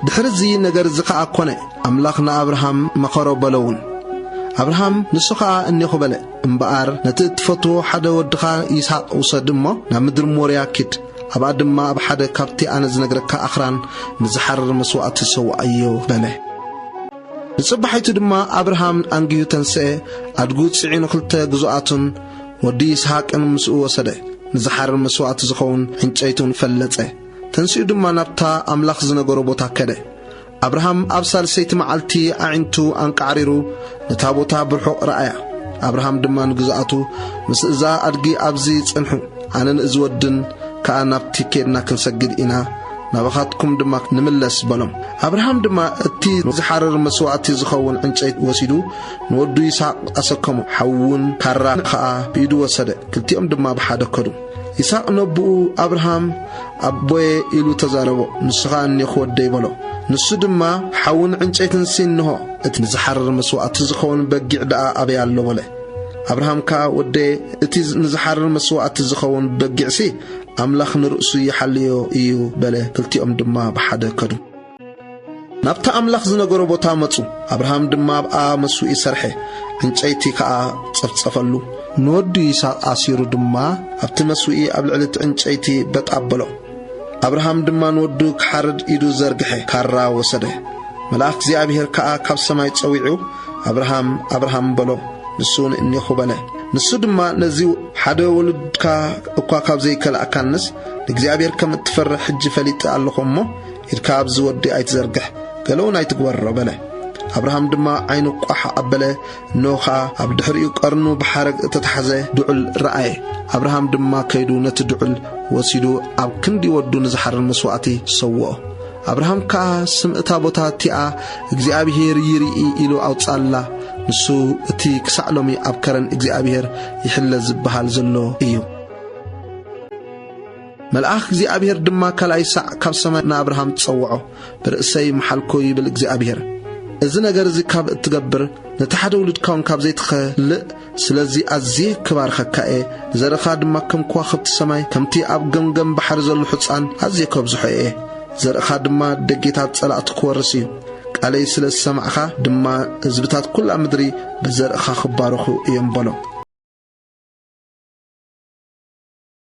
ድሕሪ እዚ ነገር እዚ ኸኣ ኰነ፣ ኣምላኽ ንኣብርሃም መኸሮ በሎውን። ኣብርሃም ንሱ ኸኣ እኔኹ በለ፣ እምበኣር ነቲ እትፈትዎ ሓደ ወድኻ ይስሃቅ ውሰድ እሞ ናብ ምድሪ ሞርያ ኪድ፣ ኣብኣ ድማ ኣብ ሓደ ካብቲ ኣነ ዝነግረካ ኣኽራን ንዝሓርር መስዋእቲ ሰውኣዮ በለ። ንጽባሒቱ ድማ ኣብርሃም ኣንጊሁ ተንስኤ፣ ኣድጉ ጽዒኑ ክልተ ግዙኣቱን ወዲ ይስሃቅን ምስኡ ወሰደ፣ ንዝሓርር መስዋእቲ ዝኸውን ዕንጨይቱን ፈለጸ። ተንሲኡ ድማ ናብታ ኣምላኽ ዝነገሮ ቦታ ከደ። ኣብርሃም ኣብ ሳልሰይቲ መዓልቲ ኣዒንቱ ኣንቃዕሪሩ ነታ ቦታ ብርሑቕ ረኣያ። ኣብርሃም ድማ ንግዝኣቱ ምስ እዛ ኣድጊ ኣብዚ ጽንሑ፣ ኣነን እዚ ወድን ከኣ ናብቲ ኬድና ክንሰግድ ኢና፣ ናባኻትኩም ድማ ንምለስ በሎም። ኣብርሃም ድማ እቲ ንዝሓርር መስዋእቲ ዝኸውን ዕንጨይቲ ወሲዱ ንወዱ ይስሃቅ ኣሰከሞ፣ ሓዊ እውን ካራ ኸኣ ብኢዱ ወሰደ፣ ክልቲኦም ድማ ብሓደ ከዱ። ይስሐቅ ነቡኡ ኣብርሃም ኣቦየ ኢሉ ተዛረቦ ንስኻ እኔኹ ወደይ በሎ ንሱ ድማ ሓውን ዕንጨይትን ሲ እንሆ እቲ ንዝሓርር መስዋእቲ ዝኸውን በጊዕ ደኣ ኣበይ ኣሎ በለ ኣብርሃም ከኣ ወደየ እቲ ንዝሓርር መስዋእቲ ዝኸውን በጊዕሲ ኣምላኽ ንርእሱ ይሓልዮ እዩ በለ ክልቲኦም ድማ ብሓደ ከዱ ናብቲ ኣምላኽ ዝነገሮ ቦታ መጹ። ኣብርሃም ድማ ኣብኣ መሱኢ ሰርሐ፣ ዕንጨይቲ ከኣ ጸፍጸፈሉ። ንወዱ ይስሃቅ ኣሲሩ ድማ ኣብቲ መሱኢ ኣብ ልዕሊ እቲ ዕንጨይቲ በጥ ኣበሎ። ኣብርሃም ድማ ንወዱ ክሓርድ ኢዱ ዘርግሐ፣ ካራ ወሰደ። መልኣኽ እግዚኣብሄር ከኣ ካብ ሰማይ ጸዊዑ፣ ኣብርሃም፣ ኣብርሃም በሎ። ንሱውን እኔኹ በለ። ንሱ ድማ ነዚ ሓደ ወሉድካ እኳ ካብ ዘይከላእካንስ ንእግዚኣብሄር ከም እትፈርሕ ሕጂ ፈሊጠ ኣለኹ እሞ ኢድካ ኣብዚ ወዲ ኣይትዘርግሕ፣ ገለውን ኣይትግበሮ፣ በለ። ኣብርሃም ድማ ዓይኑ ቋሕ ኣበለ፣ እነሆ ኸኣ ኣብ ድሕሪኡ ቀርኑ ብሓረግ እተታሕዘ ድዑል ረኣየ። ኣብርሃም ድማ ከይዱ ነቲ ድዑል ወሲዱ ኣብ ክንዲ ወዱ ንዝሓርር መስዋእቲ ሰውኦ። ኣብርሃም ከኣ ስም እታ ቦታ እቲኣ እግዚኣብሄር ይርኢ ኢሉ ኣውጽኣላ። ንሱ እቲ ክሳዕ ሎሚ ኣብ ከረን እግዚኣብሄር ይሕለ ዝበሃል ዘሎ እዩ። መልኣኽ እግዚኣብሔር ድማ ካልኣይ ሳዕ ካብ ሰማይ ንኣብርሃም ጸውዖ፣ ብርእሰይ መሓልኩ ይብል እግዚኣብሔር። እዚ ነገር እዚ ካብ እትገብር ነቲ ሓደ ውሉድካ እውን ካብ ዘይትኸልእ ስለዚ ኣዝየ ክባርኸካ እየ፣ ንዘርእኻ ድማ ከም ከዋኽብቲ ሰማይ ከምቲ ኣብ ገምገም ባሕሪ ዘሎ ሕፃን ኣዝየ ከብዝሖ እየ። ዘርእኻ ድማ ደጌታት ጸላእቱ ክወርስ እዩ። ቃለይ ስለ ዝሰማዕካ ድማ ህዝብታት ኵላ ምድሪ ብዘርእኻ ክባረኹ እዮም በሎ።